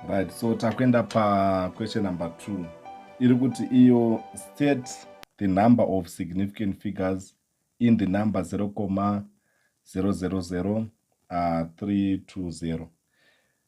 right so takuenda paquestion number two iri kuti iyo state the number of significant figures in the number 0 coma 000 320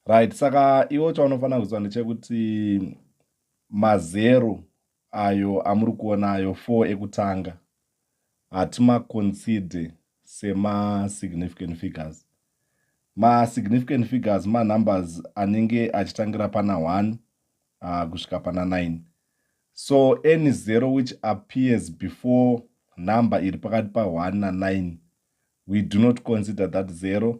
right saka iwo chaunofanira kuziva ndechekuti mazero ayo amuri kuona ayo four ekutanga hatimaconsider semasignificant figures masignificant figures manumbers anenge achitangira pana 1 uh, kusvika pana 9 so any zero which appears before number iri pakati pa1 na9 we do not consider that zero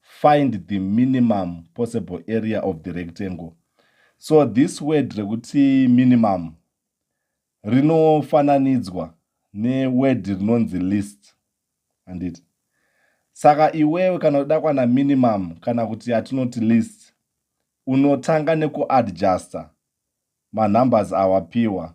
find the minimum possible area of the rectangle so this word rekuti minimum rinofananidzwa neword rinonzi list handiti saka iwewe kana uda kwana minimum kana kuti yatinoti list unotanga nekuadjusta manumbers awapiwa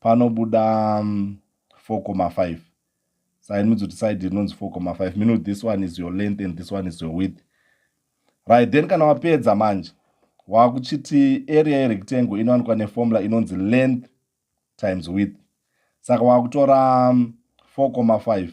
panobuda 4,5 um, side means kuti side rinonzi 4,5 mean kuti this one is your length and this one is your width right then kana wapedza manje wakuchiti area yerectangle inowanikwa neformula inonzi length times width saka wakutora 4,5 um,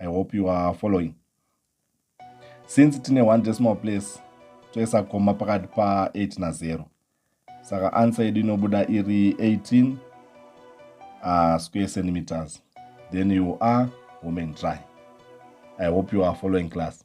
i hope you are following since tine one decimal place toisa koma pakati pa 8 na 0 saka answer yedu inobuda iri 18 uh, ah, square centimeters then you are woman dry i hope you are following class